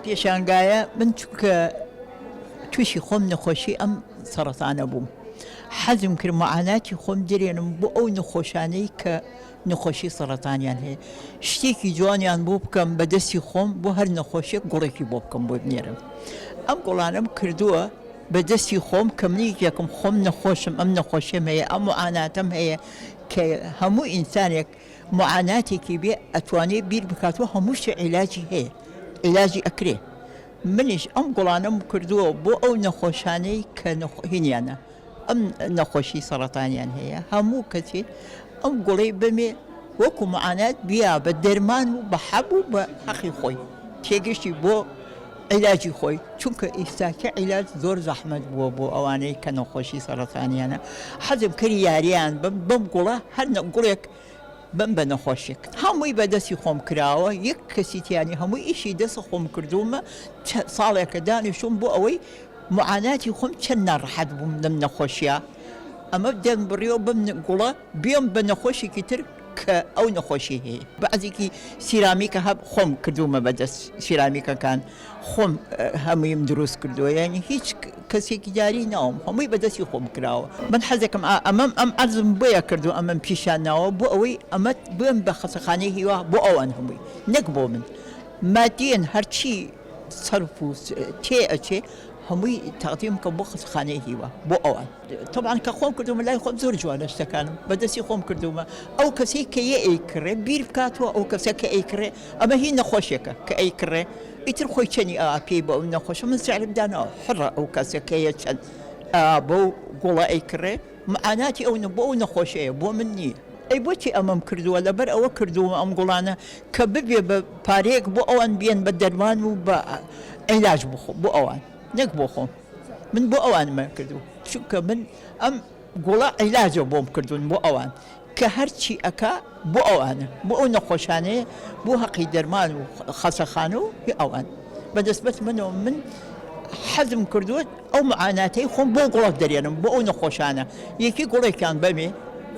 پێشانگایە من چونکە تووشی خۆم نەخۆشی ئەم سەرەتانە بووم حەزم کرد معاناتی خۆم درێنم بۆ ئەو نەخۆشانەی کە نەخۆشی سەڕەتانیان هەیە شتێکی جوانیان بۆ بکەم بە دەستی خۆم بۆ هەر نەخۆشیێک گوڵێکی بۆ بکەم بۆ بنێرم ئەم گوڵانم کردووە بە دەستی خۆم کە منیکێکم خۆم نەخۆشم ئەم نەخۆشیم هەیە ئەم و ئاناتم هەیە کە هەموو ئینسانێک معاناتێکی بێ ئەتوانێت بیر بکات و هەمووشی عیلاجی هەیە عیلاجی ئەکرێ منیش ئەم گوڵانم کردووە بۆ ئەو نەخۆشانەی کە نەخۆهینیانە ئەم نەخۆشی سەڕەتانیان هەیە هەموو کەسێک ئەم گوڵەی بمێ وەکو معانات بیا بە دەرمان و بە حەب و بە حەقی خۆی تێگەشتی بۆ عیلاجی خۆی چونکە ئیستاکە عیلاج زۆر زەحمەت بووە بۆ ئەوانەی کە نەخۆشی سەرەتانیانە حەزم کردی یاریان بم بم گوڵە هەر گوڵێک بم بە نەخۆشێک هەمووی بە دەستی خۆم کراوە یەک کەسی تیانی هەمووی ئیشی دەسە خۆم کردومە ساڵێکە دانیشتوم بۆ ئەوەی معاناتی خۆم چەند ناڕەحەت بووم لەم نەخۆشیە ئەمە دەم بڕیەوە بم گوڵە بێم بە نەخۆشێکی تر کە ئەو نەخۆشی هەیە بەعزێکی سیرامیکە هەب خۆم کردومە بەدەست سیرامیکەکان خۆم هەموویم دروست کردووە یانی هیچ کەسێکی دیاری ناوم هەمووی بەدەستی خۆم کراوە من حەزێکم ئەمەم ئەم ئەرزم بۆیە کردو ئەمەم پیشان ناوە بۆ ئەوەی ئەمەت بم بە خەسەخانەی هیوا بۆ ئەوان هەمووی نەک بۆ من مادیەن هەرچی سەرف و تێ ئەچێ هەمووی تاقدیم کە بۆ خەسەخانەی هیوا بۆ ئەوان تەبعەن کە خۆم کردومە لای خۆم زۆر جوانە شتەکانم بە دەستی خۆم کردومە ئەو کەسەی کە یە ئەیکڕێ بیر بکاتەوە ئەو کەسە کە ئەیکڕێ ئەمە هی نەخۆشێکە کە ئەیکڕێ ئیتر خۆی چەنی ئا پێی بۆ ئەو نەخۆشە من سعرم داناوە حڕە ئەو کەسە کە یە چەند ئا بەو گوڵە ئەیکڕێ معاناتی ئەو نە بۆ ئەو نەخۆشەیە بۆ من نییە ئەی بۆچی ئەمەم کردووە لەبەر ئەوە کردوومە ئەم گوڵانە کە ببێ بە پارەیەک بۆ ئەوان بیەن بە دەرمان و بە عیلاج بۆ خۆ بۆ ئەوان نەک بۆ خۆم. من بۆ ئەوان من کردو چونکە من ئەم گوڵە عیلاجە بۆم کردوون بۆ ئەوان کە هەرچی ئەکا بۆ ئەوانە بۆ ئەو نەخۆشانەیە بۆ هەقی دەرمان و خەسەخانە و ئەوان بەدەستبەت منەوە من حەزم کردووت ئەو معاناتەی خۆم بۆ گوڵک دەرێنم بۆ ئەو نەخۆشانە یەکی گوڵێکیان بەمێ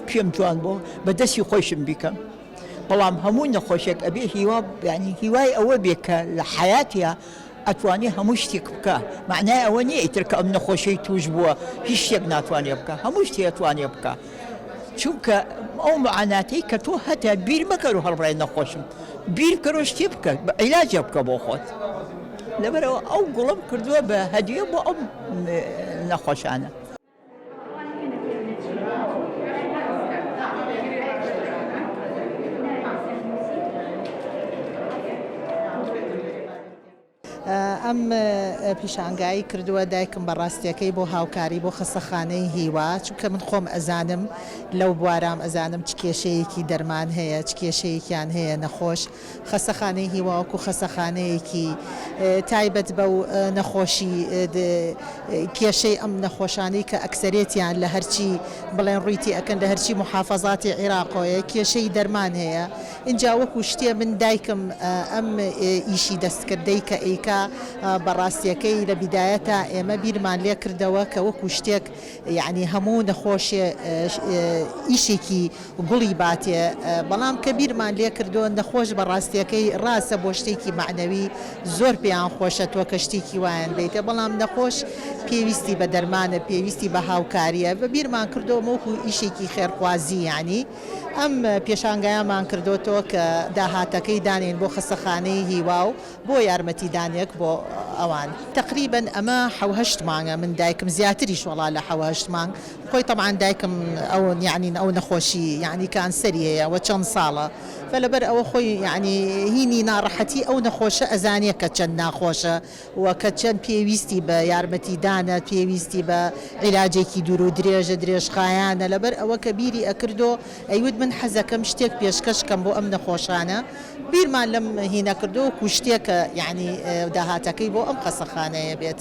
پێم جوان بۆ بە دەستی خۆشم بیکەم بەڵام هەموو نەخۆشێک ئەبێ هیوا بیانی هیوای ئەوە بێ کە لە حیاتە ئەتوانێ هەموو شتیک بکا مەعنای ئەوە نیە ئیتر کە ئەم نەخۆشەی توش بووە هیچ شتێک ناتوانێ بکا هەموو شتی ئەتوانێ بکا چونکە ئەو معاناتەی کە تۆ هەتە بیر مەکەر و هەڵبڕای نەخۆشم بیر بکەرەوە شتێ بکە بە عیلاجە بکە بۆ خۆت لەبەرەوە ئەو گوڵم کردووە بە هەدیە بۆ ئەم نەخۆشانە ئەم پیشانگایی کردووە دایکم بە ڕاستیەکەی بۆ هاوکاری بۆ خەسەخانەی هیوا چونکە من خۆم ئەزانم لەو بوارام ئەزانم چ کێشەیەکی دەرمان هەیە چ کێشەیەکیان هەیە نەخۆش خەستەخانەی هیوا وەکو خەستەخانەیەکی تایبەت بەو نەخۆشی د کێشەی ئەم نەخۆشانەی کە ئەکسەرێتیان لە هەرچی بڵێن ڕووی تێ ئەکەن لە هەرچی موحافەزاتی عیراقۆیە کێشەی دەرمان هەیە ئینجا وەکو شتێ من دایکم ئەم ئیشی دەستکردەی کە ئەیکا بە ڕاستیەکەی لە بیدایەتا ئێمە بیرمان لێ کردەوە کە وەکو شتێک یەعنی هەموو نەخۆشێ ئیشێکی گوڵی باتێ بەڵام کە بیرمان لێ کردووە نەخۆش بە ڕاستیەکەی ڕاستە بۆ شتێکی مەعنەوی زۆر پێیان خۆشە تۆ کە شتێکی وایان بەیتێ بەڵام نەخۆش پێویستی بە دەرمانە پێویستی بە هاوکاریە بە بیرمان کردووە وەکو ئیشێکی خێرخوازی یەعنی ئەم پێشانگایەمان کردۆتەوە کە داهاتەکەی دانێن بۆ خەسەخانەی هیوا و بۆ یارمەتی دانێک بۆ ئەوان. تەقریبەن ئەمە حەو هەشت مانگە من دایکم زیاتریش وەڵا لە حەو هەشت مانگ خۆی تەبعەن دایکم ئەو یەعنی ئەو نەخۆشی یەعنی کانسەری هەیە وە چەند ساڵە فە لەبەر ئەوە خۆی یەعنی هینی ناڕەحەتی ئەو نەخۆشە ئەزانێ کە چەند ناخۆشە وە کە چەند پێویستی بە یارمەتی دانە پێویستی بە عیلاجێکی دوورو درێژە درێژخایانە لەبەر ئەوە کە بیری ئەکردۆ ئەیوت من حەزەکەم شتێک پێشکەش کەم بۆ ئەم نەخۆشانە بیرمان لەم هینە کردوە وەکو شتێک کە یەعنی داهاتەکەی بۆ ئەم خەسەخانەیە بێت.